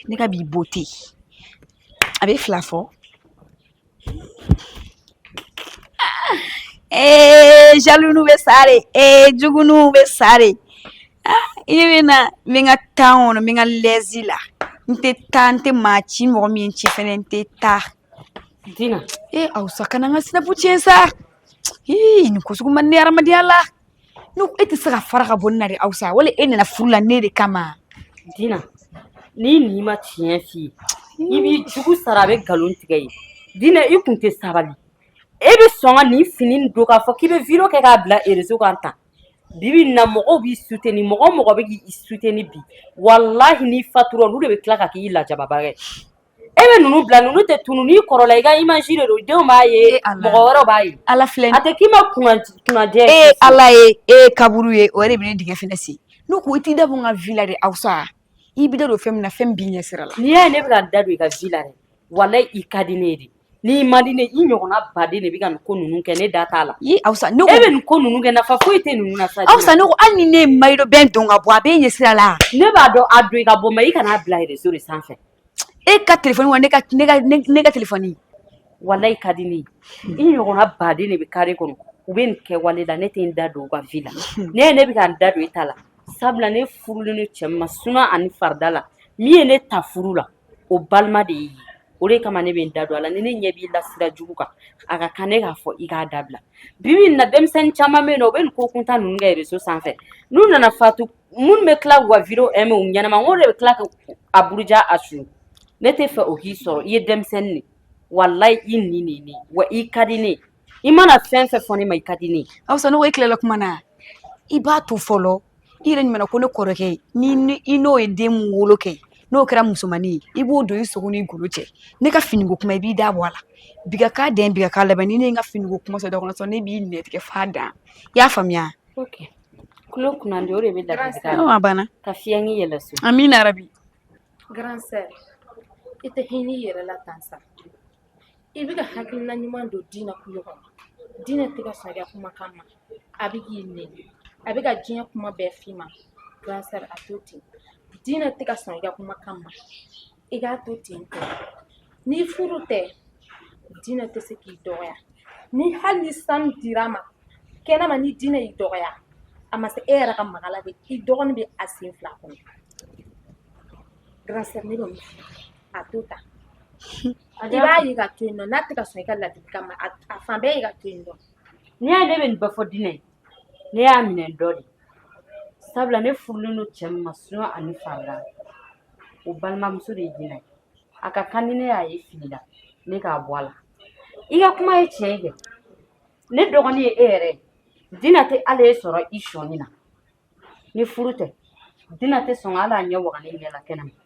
Ne ka bi beauté a bɛ fila fɔ ee eh, jaloux ninnu bɛ sa de ee eh, jugu ninnu bɛ sa de ah, i bɛ na n bɛ n ka tan kɔnɔ n bɛ n ka lɛzi la n tɛ taa n tɛ maa ci mɔgɔ min ci fɛnɛ n tɛ taa. Dina ee eh, Awusa kana n ka sinapu tiɲɛ sa ii nin ko sugu man di ne hadamadenya la. ne ko e tɛ se ka fara ka bɔ ne na de Awusa wali e nana furu la ne de kama. Dina n'i ni ma tiɲɛ f'i ye i b'i jugu sara a bɛ nkalon tigɛ ye Dina i kun tɛ sabali e bɛ sɔn ka nin fini nin don k'a fɔ k'i bɛ video kɛ k'a bila réseau kan tan bi bi in na mɔgɔw b'i soutenir mɔgɔ o mɔgɔ bɛ k'i soutenir bi walahi n'i fatura olu de bɛ tila ka k'i lajababa ye. e bɛ ninnu bila ninnu tɛ tunu n'i kɔrɔla i ka image de don denw b'a ye Ee Ala. mɔgɔ wɛrɛw b'a ye ala filɛ a tɛ k'i ma kunna kunnajɛ e ye ala ye e ye kaburu ye o yɛrɛ bɛ ne dingɛ fɛnɛ sen ne ko i t'i da bɔ n ka vie la de Awusa i b'i da don fɛn min na fɛn b'i ɲɛ sira la n'i y'a ye ne bɛ ka n da don i ka vie la dɛ walayi i ka di ne ye de n'i man di ne ye i ɲɔgɔnna baden de bɛ ka nin ko ninnu kɛ ne da t'a la i Awusa ne e ko bɛ nin ko ninnu kɛ nafa foyi tɛ ninnu na sa Awusa ne ko hali ni ne ye maillot de bain don ka bɔ a b'e ɲɛ sira la ne b'a dɔn a don i ka bɔ mais i kana a bila réseau de sanfɛ e ka téléphone wa ne ka téléphone walayi i ka di ne i ɲɔgɔnna baden de bɛ carré kɔnɔ u bɛ nin kɛwale la ne tɛ n da don u ka vie la ne ye ne bɛ ka n da don i ta la sabula ne furulen ni cɛ ma suna ani farida la min ye ne ta furu la o balima de y'i ye o de kama ne bɛ n da don a la ni ne ɲɛ b'i la sira jugu kan a ka kan ne k'a fɔ i k'a dabila bi bi in na denmisɛnnin caman bɛ yen nɔ u bɛ nin ko kuntan ninnu kɛ réseau sanfɛ n'u nana fatu minnu bɛ tila k'u ka video aimer u ɲɛnama n ko de bɛ tila ka a buruja Awusa ne t'a fɛ o k'i sɔrɔ i ye denmisɛnnin de walayi i ni de ye ne ye wa i ka di ne ye i mana fɛn fɛn fɔ ne ma i ka di ne ye Awusa ne ko e tilala kuma na i b'a to fɔlɔ i yɛrɛ ɲumanna ko ne kɔrɔkɛ ni ni- i n'o ye den min wolo kɛ n'o kɛra musomanin ye i b'o don i sogo n'i golo cɛ ne ka finiko kuma i b'i da bɔ a la bi ka k'a dan bi ka k'a laban ni ne ye n ka finiko kuma sɔrɔ da kɔnɔ sɔrɔ ne b'i nɛn tigɛ f'a dan i y'a faamuya ok kulo kunnandi o de bɛ a banna ka fiɲɛ ni yɛlɛ so amiina yarabi grand sœur i tɛ hinɛ i yɛrɛ la tan sa i bɛ ka hakilina ɲuman don Dina kulo kɔnɔ Dina tɛ ka sɔn i ka kumakan ma a bɛ k'i nɛni a bɛ ka diɲɛ kuma bɛɛ f'i ma grand sœur a to ten Dina tɛ ka sɔn i ka kumakan ma i k'a to ten tɔ ni furu tɛ dina tɛ se k'i dɔgɔya ni hali ni sanu dir'a ma kɛnɛma ni dina y'i dɔgɔya a ma se e yɛrɛ ka maga la de i dɔgɔnin bɛ a sen fila kɔnɔ grande sœur ne bɛ a to tan i b'a ye ka to yen nɔ n'a tɛ ka sɔn i ka ladilikan ma a fan bɛɛ ye ka to yen nɔ n'i y'a ye ne bɛ nin bɛɛ fɔ dina ye ne y'a minɛ dɔ de sabula ne furulen don cɛ min ma suna ani farida o balimamuso de ye dina ye a ka kan ni ne y'a ye fili la ne k'a bɔ a la i ka kuma ye tiɲɛ ye kɛ ne dɔgɔnin ye e yɛrɛ ye dina tɛ ala ye sɔrɔ i sɔnni na ni furu tɛ dina tɛ sɔn ka hali a ɲɛ waga ne ɲɛ la kɛnɛma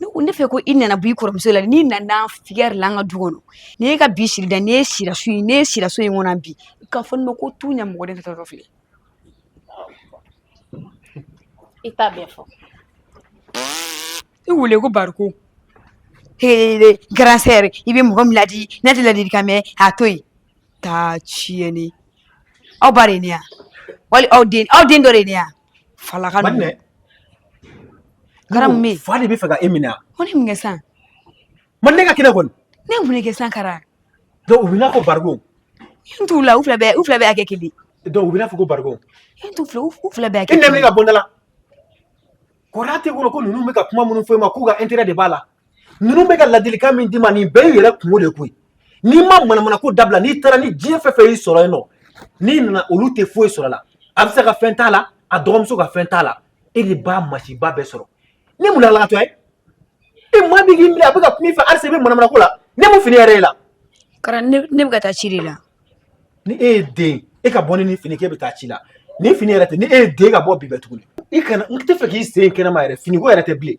ne ko ne fɛ ko i nana bɔ i kɔrɔmuso la n'i nana fiyɛ la an ka du kɔnɔ ni e ka bi siri da ni e sira so in kɔnɔ bi i ka fɔ ne ma ko tu ɲɛ mɔgɔ de ka taa filɛ i t'a bɛɛ fɔ i wele ko bariko grande sœur i bɛ mɔgɔ min ladi ne tɛ ladilikan mɛn a to yen taa tiɲɛni aw ba de ye ne yan wali aw den aw den dɔ de ye ne yan Fala ka minɛ fa de bɛ fɛ ka e minɛ ko ne mun san ma ne ka kɛnɛ kɔni ne mun kɛ san kara donc u bɛna fɔ bariko n t'u la u fila u fila bɛɛ hakɛ kelen donc u bɛna fɔ ko bariko n t'u fila u fila bɛɛ kɛ ne ka bɔda la kɔrɔ tɛ ko ko ninnu bɛ ka kuma minnu fɔ e ma k'u ka intérêt de b'a la ninnu bɛ ka ladilikan min d'i ma nin bɛɛ y'i yɛrɛ kunko de koyi n'i ma manamana ko dabila n'i taara ni diɲɛ fɛn fɛn y'i sɔrɔ yen nɔ n'i nana olu tɛ foyi sɔrɔ la a bɛ se ka fɛn t'a la a dɔgɔmuso ka fɛn t'a la e de b'a masiba bɛɛ sɔrɔ ne mun lalatɔ ye e maa min k'i minɛ a bɛ ka kuma i fɛ halisa i bɛ manamana ko la ne mun fini yɛrɛ ye la kara ne bɛ ka taa ci de la ni e ye den e ka bɔ ni nin fini k'e bɛ taa ci la ni fini yɛrɛ tɛ ni e ye den ka bɔ bi bɛ tuguni i kana n tɛ fɛ k'i sen kɛnɛma yɛrɛ finiko yɛrɛ tɛ bilen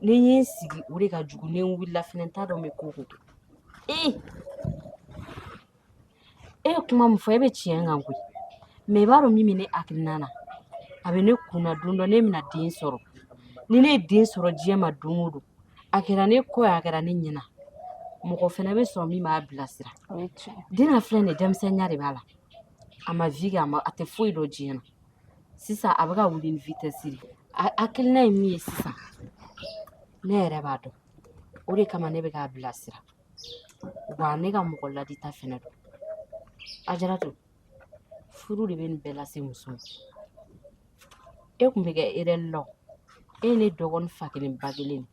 ni n y'i sigi o de ka jugu ni n wulila fɛnɛ n t'a dɔn n bɛ ko ko kɛ ee e ye kuma min fɔ e bɛ tiɲɛ kan koyi mɛ i b'a dɔn min bɛ ne hakilina na a bɛ ne kun na don dɔ ne bɛna den sɔrɔ ni ne ye den sɔrɔ diɲɛ ma don o don a kɛra ne kɔ ye a kɛra ne ɲɛna mɔgɔ fɛnɛ bɛ sɔrɔ min b'a bilasira den na filɛ nin ye denmisɛnninya de b'a la a ma vi kɛ a tɛ foyi dɔn diɲɛ na sisan a bɛ ka wuli ni vitɛsi de a hakilina ye min ye sisan ne yɛrɛ b'a dɔn o de kama ne bɛ k'a bilasira wa ne ka mɔgɔ ladita fɛnɛ don ajaratu furu de bɛ nin bɛɛ lase muso ma e kun bɛ kɛ erɛri la o e ye ne dɔgɔnin fa kelen ba kelen de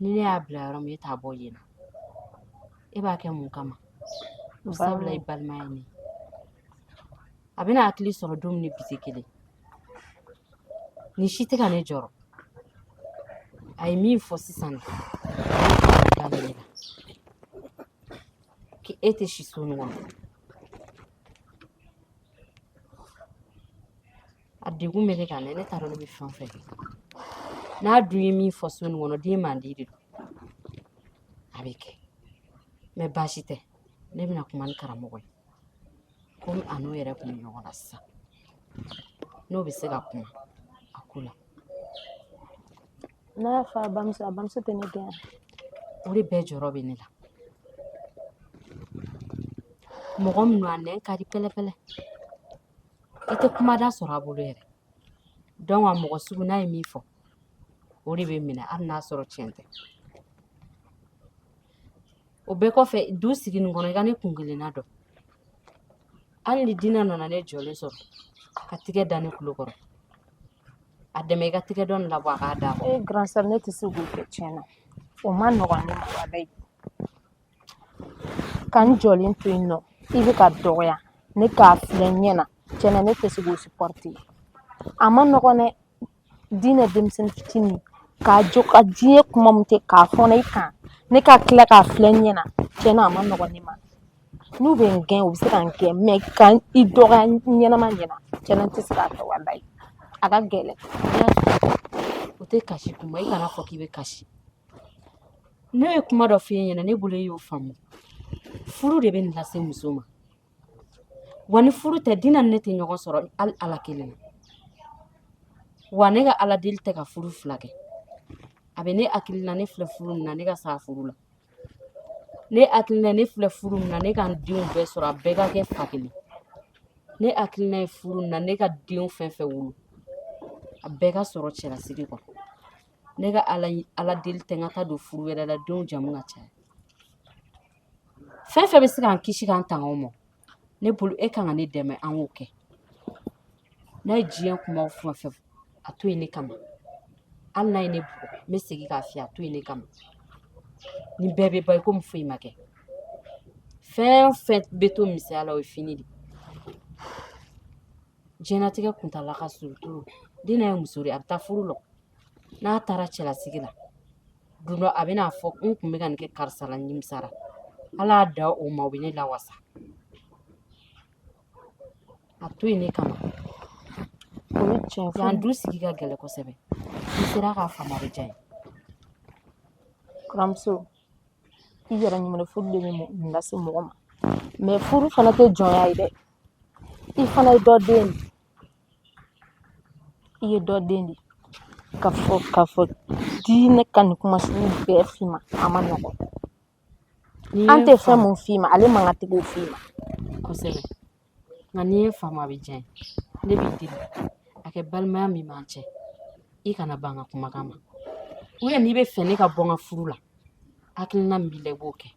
ni ne y'a bila yɔrɔ min e t'a bɔ yen na e b'a kɛ mun kama sabula i balima ye ne a bɛna hakili sɔrɔ don min ni bi tɛ kelen nin si tɛ ka ne jɔrɔ a ye min fɔ sisan daminɛ la ko e tɛ si so nin kɔnɔ a degun bɛ ne kan dɛ ne t'a dɔn ne bɛ fɛn o fɛn kɛ n'a dun ye min fɔ so nin kɔnɔ denmandi de don a bɛ kɛ mɛ baasi tɛ ne bɛna kuma ni karamɔgɔ ye komi a n'o yɛrɛ kun bɛ ɲɔgɔn na sisan n'o bɛ se ka kuma a ko la n'a y'a fɔ a bamuso a bamuso tɛ ne gɛn o de bɛɛ jɔrɔ bɛ ne la mɔgɔ min don a nɛn ka di pɛlɛpɛlɛ i tɛ kumada sɔrɔ a bolo yɛrɛ dɔnki a mɔgɔ sugu n'a ye min fɔ o de bɛ minɛ hali n'a sɔrɔ tiɲɛ tɛ o bɛɛ kɔfɛ du sigi nin kɔnɔ i ka ne kun kelenna dɔn hali ni dina nana ne jɔlen sɔrɔ ka tigɛ da ne tulo kɔrɔ a dɛmɛ i ka tigɛ dɔ nin labɔ a k'a d'a kɔrɔ ee ne tɛ se k'o kɛ tiɲɛ na o ma nɔgɔn ne ma walayi ka n jɔlen to yen nɔ i bɛ ka dɔgɔya ne k'a filɛ n ɲɛ na tiɲɛ na ne tɛ se k'o supɔrite a ma nɔgɔn dɛ dina denmisɛnnin fitinin k'a jɔ ka diɲɛ kuma min tɛ k'a fɔ ne kan ne ka tila k'a filɛ n ɲɛ na tiɲɛ na a ma nɔgɔn ne ma n'u bɛ n gɛn u bɛ se ka n gɛn mɛ ka i dɔgɔya ɲɛnama ɲɛna tiɲɛ na n tɛ se k'a kɛ walayi a ka gɛlɛn o tɛ kasi kuma i kana fɔ k'i bɛ kasi Ne ye kuma dɔ f'i ɲɛna ne bolo e y'o faamu furu de bɛ nin lase muso ma wa ni furu tɛ dina ni ne tɛ ɲɔgɔn sɔrɔ hali ala kelen na wa ne ka ala deli tɛ ka furu fila kɛ a bɛ ne hakili la ne filɛ furu min na ne ka sa furu la ne hakili la ne filɛ furu min na ne ka n denw bɛɛ sɔrɔ a bɛɛ ka kɛ fa kelen ne hakili la ye furu min na ne ka denw fɛn fɛn wolo a bɛɛ ka sɔrɔ cɛlasigi kɔnɔ ne ka ala deli tɛ ka taa don furu wɛrɛ la denw jamu ka caya fɛn fɛn bɛ se k'an kisi k'an tanga o ma ne bolo e kan ka ne dɛmɛ an k'o kɛ n'a ye diɲɛ kumaw fɛn fɛn fɔ a to yen ne kama hali n'a ye ne bugɔ n bɛ segin k'a f'i ye a to yen ne kama nin bɛɛ bɛ ban i komi foyi ma kɛ fɛn o fɛn bɛ to misɛnya la o ye fini de ye diɲɛlatigɛ kuntaala ka surun trop Dina ye muso de ye a bɛ taa furu la n'a taara cɛlasigi la don dɔ a bɛ n'a fɔ n tun bɛ ka nin kɛ karisa la nimisara ala y'a da o ma o bɛ ne lawasa a to yen ne kama o ye tiɲɛ fɔ yan du sigi ka gɛlɛn kosɛbɛ n'i sera k'a faamu a bɛ diya n ye kɔrɔmuso i yɛrɛ ɲuman furu de bɛ mun lase mɔgɔ ma mɛ furu fana tɛ jɔnya ye dɛ i fana ye dɔ den de i ye dɔ den de k'a fɔ k'a fɔ Dina ka nin kuma sugu bɛɛ f'i ma a ma nɔgɔn an tɛ fɛn mun f'i ma ale man ka tigiw f'i ma kosɛbɛ nka n'i ye faamu a bɛ diya n ye ne b'i deli a kɛ balimaya min b'an cɛ i kana ban n ka kumakan ma n'i bɛ fɛ ne ka bɔ n ka furu la hakilina min b'i la i b'o kɛ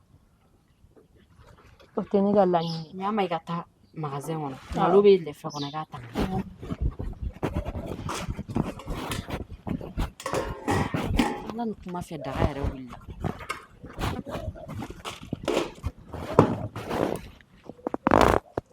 o tɛ ne ka laɲini n'a ma i ka taa magazɛn kɔnɔ malo bɛ lɛfɛ kɔnɔ i k'a ta ala ni kuma fɛ daga yɛrɛ wulila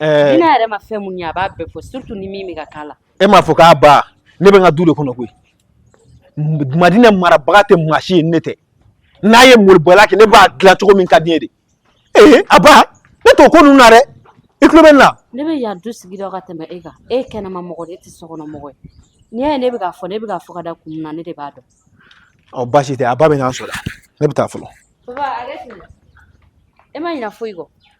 Ɛɛ Dina yɛrɛ ma fɛn mun ye a b'a bɛɛ fɔ surtout ni min bɛ ka k'a la. E m'a fɔ k'a ba ne bɛ n ka du de kɔnɔ koyi Madina marabaga tɛ maa si ye ne tɛ n'a ye malobaliya kɛ ne b'a dilan cogo min ka di n ye de ee a ba ne t'o ko ninnu na dɛ i tulo bɛ ne la ne bɛ yan du sigi dɔn ka tɛmɛ e kan e ye kɛnɛma mɔgɔ de ye e tɛ sokɔnɔ mɔgɔ ye n'i y'a ye ne bɛ k'a fɔ ne bɛ k'a fɔ ka da kun min na ne de b'a dɔn ɔ baasi tɛ a ba bɛ n'an sɔrɔ ne bɛ taa fɔlɔ papa hakɛ to e ma ɲinɛ foyi kɔ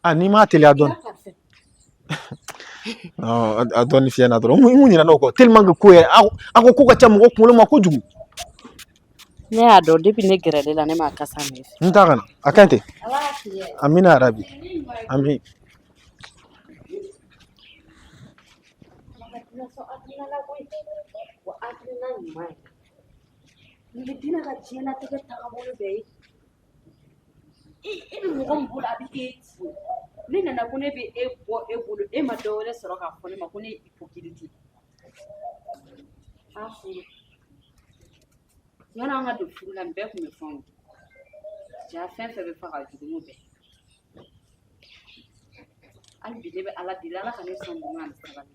A n'i m'a teliya dɔɔni a dɔɔni fiɲɛna dɔrɔn mun mun ɲinɛna o kɔ tellement que ko yɛrɛ a ko ko ka ca mɔgɔ kunkolo ma kojugu ne y'a dɔn depuis ne gɛrɛlen a la ne m'a kasa mɛn n t'a kana a ka ɲi ten amiina yarabi amiin Nin ye Dina ka diɲɛlatigɛ taabolo bɛɛ ye i i bɛ mɔgɔ min bolo a bɛ k'e fo ne nana ko ne bɛ e bɔ e bolo e ma dɔ wɛrɛ sɔrɔ k'a fɔ ne ma ko ne ye hypocrite a furu yan'an ka don furu la nin bɛɛ tun bɛ fɛnw ja fɛn fɛn bɛ fɔ ka jugu n'o bɛɛ hali bi ne bɛ ala deli ala ka ne sɔn ɲuman ani sabali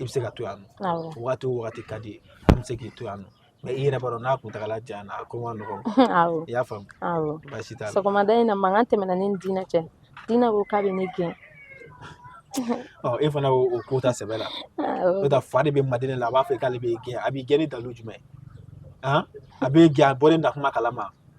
i bɛ se ka to yan nɔ waati o waati ka di ye an bɛ se k'i to yan nɔ mɛ i yɛrɛ b'a dɔn n'a kuntagala janyana a ko man nɔgɔn i y'a faamu baasi t'a la sɔgɔmada in na mankan tɛmɛna ne ni Dina cɛ Dina ko k'a bɛ ne gɛn ɔ e fana o ko ta sɛbɛ la n'o tɛ fa de bɛ Madina la a b'a fɛ k'ale b'e gɛn a b'i gɛn ni dalu jumɛn a b'e gɛn a bɔlen na kuma kalama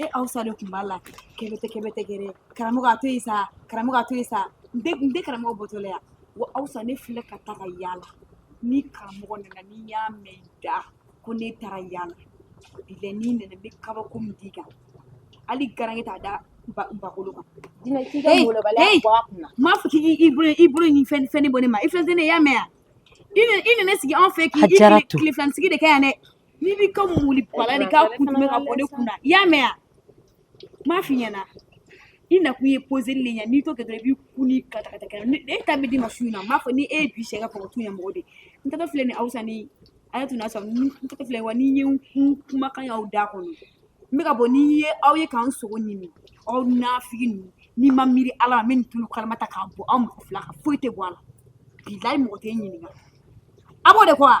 e Awusa de tun b'a la kɛbɛtɛ kɛbɛtɛ kɛrɛ karamɔgɔ a to yen sa karamɔgɔ a to yen sa n tɛ n tɛ karamɔgɔ bɔtɔla yan wa Awusa ne filɛ ka taa ka yaala ni karamɔgɔ nana ni n y'a mɛn i da ko ne taara yaala bilayi ni n nana n bɛ kabako min d'i kan hali garange t'a da bagolo kan Dina k'i ka molobaliya bɔ a kunna m'a fɔ k'i i bolo i bolo ni fɛn fɛn ne bɔ ne ma i filɛ tɛ ne y'a mɛn yan i nana sigi anw fɛ k'i i tile filanisigi de kɛ yan dɛ N'i b'i ka muli bala de ka kun bɛ ka bɔ ne kunna i y'a mɛn yan m'a f'i ɲɛna i nakun ye poseli de ye n'i t'o kɛ i b'i kun ni ka e ta bɛ d'i ma su in na m'a fɔ ni e ye bi sɛ ka faga tu ɲɛmɔgɔ de n tɛ filɛ ni Awusa ni a ye tun y'a sɔrɔ n tɛ filɛ wa ni n ye n kun kumakan y'aw da kɔnɔ n bɛ ka bɔ ni n ye aw ye ka n sogo ɲimi aw nafigi ninnu n'i ma miiri Ala ma n bɛ nin tulu kalama ta k'a bɔn aw mɔgɔ fila kan foyi tɛ bɔ a la bilayi mɔgɔ tɛ n ɲininka a b'o de kɔ wa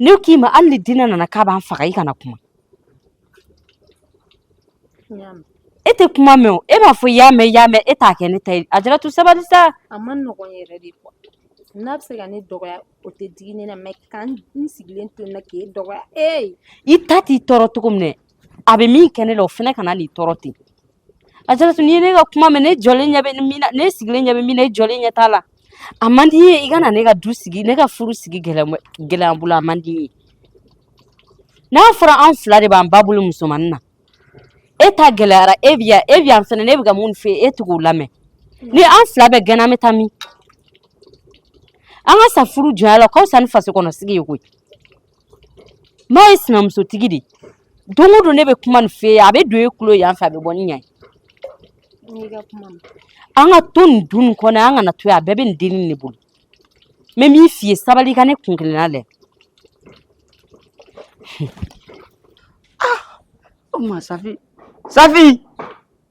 Ne k'i ma hali ni Dina nana k'a b'an faga i kana kuma. N y'a mɛn. E tɛ kuma mɛn o, e b'a fɔ i y'a mɛn i y'a mɛn e t'a kɛ ne ta ye, Ajaratu sabali sa. A man nɔgɔn yɛrɛ de quoi n'a bɛ se ka ne dɔgɔya o tɛ digi ne na mais ka n sigilen to nin na k'e dɔgɔya ee. I ta t'i tɔɔrɔ cogo min dɛ a bɛ min kɛ ne la o fana kana n'i tɔɔrɔ ten Ajaratu n'i ye ne ka kuma mɛn ne jɔlen ɲɛ bɛ min na ne sigilen ɲɛ bɛ min na e jɔlen ɲɛ t'a la a man di n ye i ka na ne ka du sigi ne ka furu sigi gɛlɛya n bolo a man di n ye n'a fɔra an fila de b'an ba bolo musomanin na e ta gɛlɛyara e bi yan e bi yan fɛnɛ ne bɛ ka mun fɛ e tɛ k'o lamɛn ni an fila bɛɛ gɛnna an bɛ taa min an ka sa furu jɔnya la ka wusa ni faso kɔnɔ sigi ye koyi Maa ye sinamusotigi de ye don o don ne bɛ kuma nin f'e ye a bɛ don e tulo yan fɛ a bɛ bɔ ni yan ye an ka to nin du nin kɔnɔ an kana to yan a bɛɛ bɛ nin dennin de bolo n bɛ min f'i ye sabali i ka ne kun kelenna lajɛ o tuma Safi Safi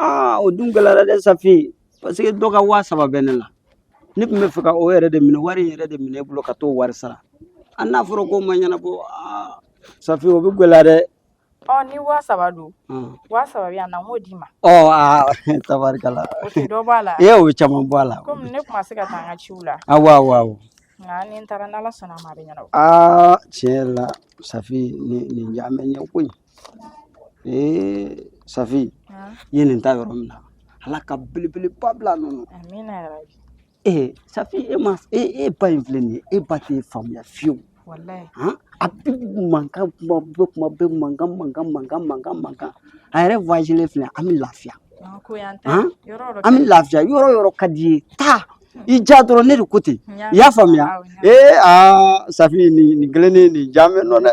aa o dun gɛlɛyara dɛ safi parce que dɔ ka waa saba bɛ ne la ne tun b'a fɛ ka o yɛrɛ de minɛ wari in yɛrɛ de minɛ e bolo ka t'o wari sara a n'a fɔra k'o ma ɲɛnabɔ aa safi o bɛ gɛlɛya dɛ ɔ ni waa saba don Ɔn. waa saba bɛ yan na n k'o d'i ma ɔ aa tabarikala o tɛ dɔ b'a la e y'o caman bɔ a la komi ne tun ma se ka taa n ka ciw la awɔ awɔ awɔ nka ni n taara n'ala sɔnna a ma a bɛ ɲɛnabɔ aa tiɲɛ yɛrɛ la safi nin nin ɲaamɛ ɲɛ koyi Ee safi i ye nin ta yɔrɔ min na ala ka belebeleba bila a nɔ na ee safi e ma e e ba in filɛ nin ye e ba t'e faamuya fiyewu a bɛ mankan kuma bɛ kuma bɛ mankan mankan mankan mankan mankan a yɛrɛ voyagelen filɛ an bɛ lafiya an bɛ lafiya yɔrɔ yɔrɔ ka d'i ye taa i ja dɔrɔn ne de ko ten i y'a faamuya ee aa safi nin nin kelen nin nin ja mɛn nɔ dɛ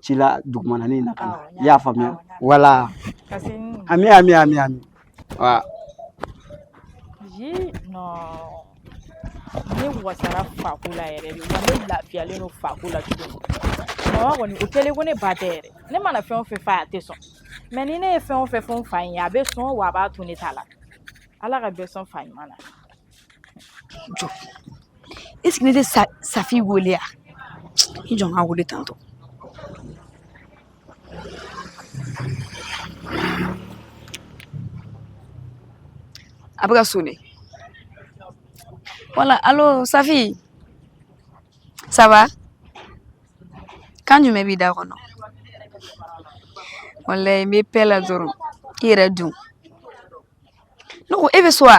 ci la dugumana ni na ka na i y'a faamuya wala ami ami ami ami wa ji nɔ ne wasara fako la yɛrɛ de wa ne lafiyalen don fako la cogo mama kɔni o kɛlen ko ne ba tɛ yɛrɛ ne mana fɛn o fɛn f'a ye a tɛ sɔn mais ni ne ye fɛn o fɛn fɔ n fa in ye a bɛ sɔn wa a b'a to ne ta la ala ka bɛɛ sɔn fa ɲuman na Jɔ est-ce que ne tɛ safi weele yan i jɔ n ka weele tantɔ a bɛ ka sonner voilà alo safi ça va kan jumɛn b'i da kɔnɔ wallahi n bɛ paix la dɔrɔn i yɛrɛ dun ne ko e bɛ so wa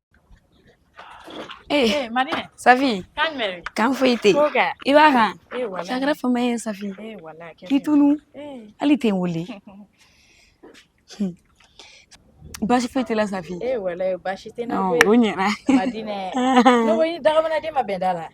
Ee mari safi kan foyi tɛ i b'a kan sa a kɛra fama ye safi i tunu hali i tɛ n wele baasi foyi tɛ n la safi o ɲɛna daminɛden ma bɛn da la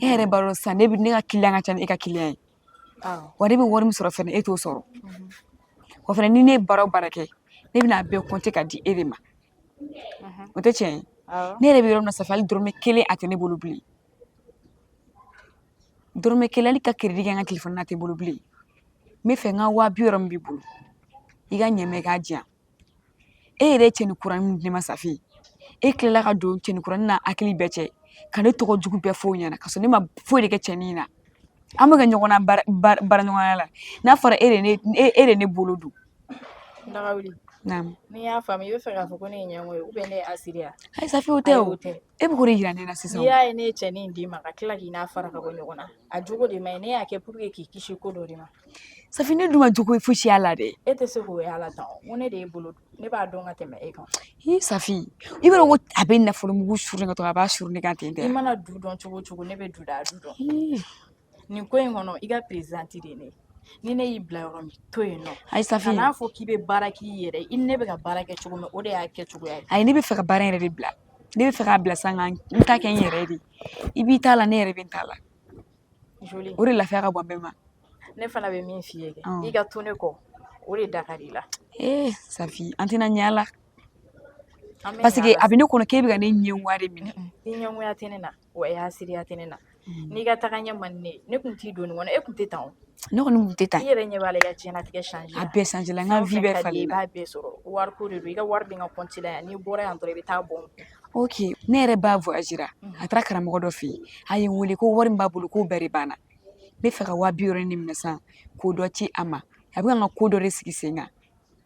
e yɛrɛ b'a dɔn sisan ne ka kiliyan ka ca ni e ka kiliyan ye wa ne bɛ wari min sɔrɔ fɛnɛ e t'o sɔrɔ wa fɛnɛ ni ne ye baara o baara kɛ ne bɛna a bɛɛ kɔnte ka di e de ma o tɛ tiɲɛ ye ne yɛrɛ bɛ yɔrɔ min na safi hali dɔrɔmɛ kelen a tɛ ne bolo bilen dɔrɔmɛ kelen hali ka keredi kɛ n ka telefɔni na a tɛ n bolo bilen n bɛ fɛ n ka waa bi wɔɔrɔ min b'i bolo i ka ɲɛ n ma k'a di yan e yɛrɛ ye cɛnin kura min di ne ma safi e tilala ka don cɛnin kura n'a hakili bɛɛ cɛ ka ne tɔgɔ jugu bɛɛ fɔ o ɲɛna ka sɔrɔ ne ma foyi de kɛ cɛnin na an bɛ ka ɲɔgɔn na baaraɲɔgɔnya la n'a fɔra e de ye ne bolo don n'i y'a faamu i bɛ fɛ k'a fɔ ko ne ye ɲɛngo ye ne ye hasidi ye ayi safi o tɛ o tɛ E bɛ k'o de jira ne na sisan o, n'i y'a ye ne ye cɛnin in d'i ma ka tila k'i n'a fara ka bɔ ɲɔgɔn na a jogo de man ɲi ne y'a kɛ pour que k'i kisi ko dɔ de ma Safi ne dun ma jogo fosi y'a la dɛ e tɛ se k'o y'a la tan o n ko ne de y'i bolo don ne b'a dɔn ka tɛmɛ e kan Hi Safi i b'a dɔn ko a bɛ nafolo mugu suru ne kan tɔ a b'a suru ne kan ten tɛ i mana du dɔn cogo o cogo ne bɛ du da a du dɔn Hi nin ko in kɔnɔ i ka perezidanti de ye ne ye ni ne y'i bila yɔrɔ min to yen nɔ ayi safi kan'a fɔ k'i bɛ baara k'i yɛrɛ ye i ni ne bɛ ka baara kɛ cogo min o de y'a kɛcogoya ye ayi ne bɛ fɛ ka baara yɛrɛ de bila ne bɛ fɛ k'a bila sa ka n ta kɛ n yɛrɛ de i b'i ta la ne yɛrɛ bɛ n ta la joli o de lafiya ka bon bɛɛ ma ne fana bɛ min f'i ye kɛ i ka to ne kɔ o de da ka di i la ee safi an tɛna ɲɛ a la parce que a bɛ ne kɔnɔ k'e bɛ ka ne ɲɛngoya de minɛ i ɲɛngoya tɛ ne na wa i hasidiya tɛ ne na n'i ka tagaɲɛ man di ne ye ne tun t'i don nin kɔnɔ e tun tɛ tan ne kɔni tɛ tan i yɛrɛ ɲɛ b'a la i ka diɲɛlatigɛ changer a bɛɛ changera i b'a bɛɛ sɔrɔ wari ko de don i ka wari bɛ n ka kɔnti la yan n'i bɔra yan dɔrɔn i bɛ taa bɔ oke ne yɛrɛ ba voyagera a taara karamɔgɔ dɔ fɛ yen a ye n weele ko wari min b'a bolo k'o bɛɛ banna n bɛ fɛ ka waa biwɔɔrɔ de minɛ sisan k'o dɔ ci a ma a bɛ ka n ka ko dɔ de sigi sen kan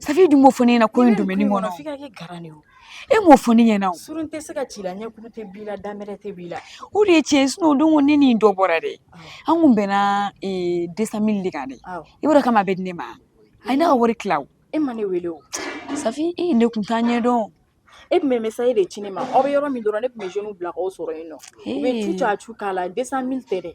Safi dun m'o fɔ ne ɲɛna ko in domaine kɔnɔ f'i ka kɛ garan de ye o e m'o fɔ ne ɲɛna o surun tɛ se ka ci la ɲɛkuru tɛ b'i la danbɛrɛ tɛ b'i la o de ye tiɲɛ ye sinon o don ne ni dɔ bɔra dɛ an kun bɛnna 200 000 de kan dɛ i b'a dɔn kama a bɛ di ne ma a ye ne ka wari tila o e ma ne wele o safi e ne kun t'a ɲɛdɔn e tun bɛ message de ci ne ma aw bɛ yɔrɔ min dɔrɔn ne tun bɛ jeunes bila k'aw sɔrɔ yen nɔ u bɛ tu cacu k'a la 200 000 tɛ dɛ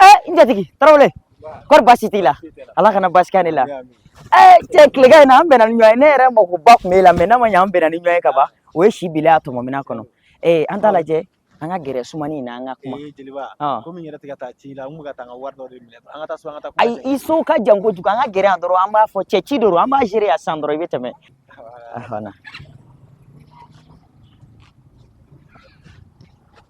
eh n jatigi tarawele kɔri baasi t'i la ala kana baasi kɛ ne la eh cɛ tilegan in na an bɛnna ni ɲɔgɔn ye ne yɛrɛ makoba tun b'e la mɛ n'a ma ɲɛ an bɛnna ni ɲɔgɔn ye ka ban o ye si bila a tɔmɔminan kɔnɔ eh an t'a lajɛ an ka gɛrɛ sumani in na an ka kuma ee jeliba Ɔn. komi n yɛrɛ tɛ ka taa ci la n kun bɛ ka taa n ka wari dɔ de minɛ an ka taa so an ka taa kuma ayi kɛ. i so ka jan kojugu an ka gɛrɛ yan dɔrɔn an b'a fɔ cɛ ci dɔrɔn an b'a gérer yan sisan dɔrɔn i bɛ tɛmɛ Awɔ. ahana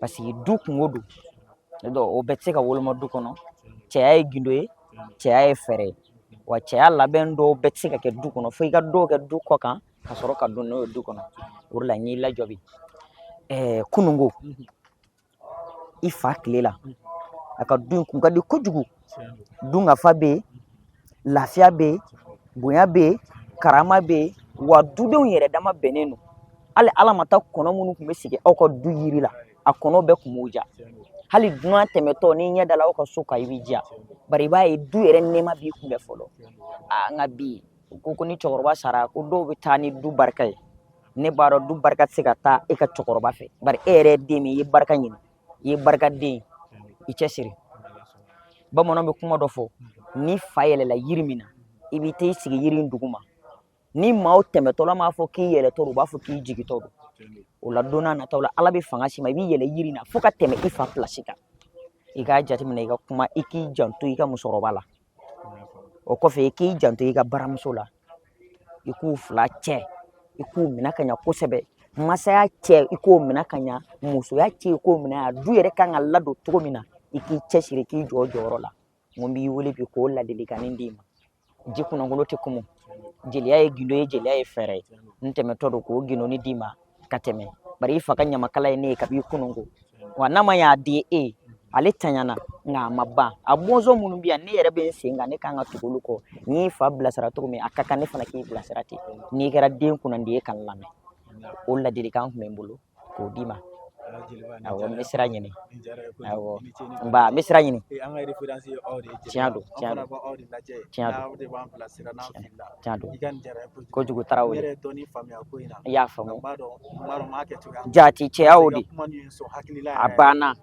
paseke du kungo don o bɛɛ tɛ se ka woloma du kɔnɔ cɛya ye gindo ye cɛya ye fɛɛrɛ ye wa cɛya labɛn dɔw bɛɛ tɛ se ka kɛ du kɔnɔ fo i ka dɔw kɛ du kɔ kan ka sɔrɔ ka don n'o ye du kɔnɔ o de la n y'i lajɔ bi ɛɛ kununko i fa tile la a ka du in kun ka di kojugu dunkafa bɛ yen lafiya bɛ yen bonya bɛ yen karama bɛ yen wa dudenw yɛrɛ dama bɛnnen don hali ala ma taa kɔnɔ minnu tun bɛ sigi aw ka du yiri la a kɔnɔ bɛɛ tun b'u ja hali dunan tɛmɛtɔ n'i ɲɛ dala aw ka so kan i b'i ja bari i b'a ye du yɛrɛ nɛɛma b'i kunbɛn fɔlɔ aa nka bi u ko ko ni cɛkɔrɔba sara ko dɔw bɛ taa ni du barika ye ne b'a dɔn du barika tɛ se ka taa e ka cɛkɔrɔba fɛ bari e yɛrɛ ye den min i ye barika ɲini i ye barikaden i cɛ siri bamananw bɛ kuma dɔ fɔ n'i fa yɛlɛla yiri min na i bɛ t'i sigi yiri in duguma ni maaw tɛmɛtɔla m'a fɔ k'i yɛlɛtɔ don u b'a fɔ k'i jigitɔ don o la don nataw la ala bɛ fanga s'i ma i b'i yɛlɛ yiri in na fo ka tɛmɛ i fa pilasi kan i k'a jateminɛ i ka kuma i k'i janto i ka musokɔrɔba la o kɔfɛ i k'i janto i ka baramuso la i k'u fila cɛ i k'u minɛ ka ɲa kosɛbɛ masaya cɛ i k'o minɛ ka ɲa musoya cɛ i k'o minɛ a du yɛrɛ kan ka ladon cogo min na i k'i cɛsiri k'i jɔ jɔyɔrɔ la n ko n b'i wele bi k'o ladilikanni d'i ma ji kunnankolon tɛ kumu jeliya ye gindo ye jeliya ye fɛɛrɛ ye n tɛmɛtɔ don k'o gindoni d'i ma ka tɛmɛ bari i fa ka ɲamakala ye ne ye kabi kununko wa n'a ma y'a di e ye ale tanyana nka a ma ban a bɔnsɔn minnu bɛ yan ne yɛrɛ bɛ n sen kan ne kan ka tugu olu kɔ n y'i fa bilasira cogo min a ka kan ne fana k'i bilasira ten n'i kɛra den kunnandi ye ka n lamɛn o ladilikan tun bɛ n bolo k'o d'i ma awɔ n bɛ sira ɲini awɔ n ba n bɛ sira ɲini tiɲɛ don tiɲɛ don tiɲɛ don tiɲɛ don kojugu tarawele i y'a faamu jati cɛya o de a banna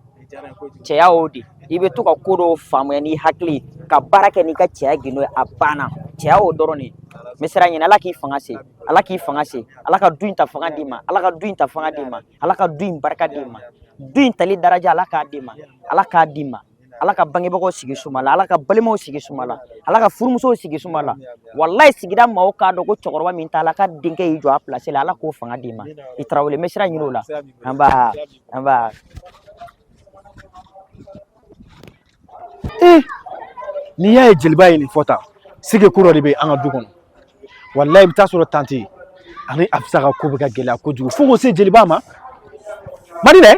cɛya o de i bɛ to ka ko dɔw faamuya n'i hakili ka baara kɛ n'i ka cɛya gindo ye a banna cɛya o dɔrɔn de n bɛ sira ɲini ala k'i fanga se ala k'i fanga se ala ka du in ta fanga d'i ma ala ka du in ta fanga d'i ma ala ka du in barika d'i ma du in tali daraja ala k'a d'i ma ala k'a d'i ma ala ka bangebagaw sigi suma la ala ka balimaw sigi suma la ala ka furumusow sigi suma la walayi sigida maaw k'a dɔn ko cɛkɔrɔba min t'a la ka denkɛ y'i jɔ a pilasi la ala k'o fanga d'i ma i tarawele n bɛ sira ɲini o la an b'a an b'a ee n'i y'a ye jeliba ye nin fɔ tan sigi ko dɔ de bɛ an ka du kɔnɔ walayi i bɛ taa sɔrɔ tante ani afisa ka ko bɛ ka gɛlɛya kojugu fo k'o se jeliba ma madi dɛ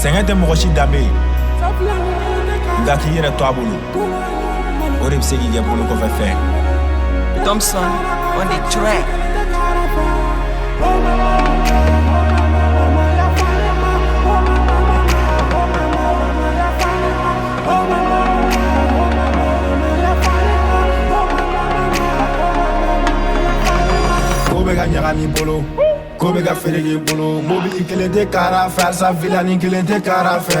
sɛgɛn tɛ mɔgɔ si danbe ye nka k'i yɛrɛ to a bolo O de bɛ se k'i kɛ bolo kɔfɛ fɛn Thompson on the track Ko bɛ ka ɲagami i bolo ko bɛ ka fereke i bolo mobili kelen tɛ kara fɛ halisa vilani kelen tɛ kara fɛ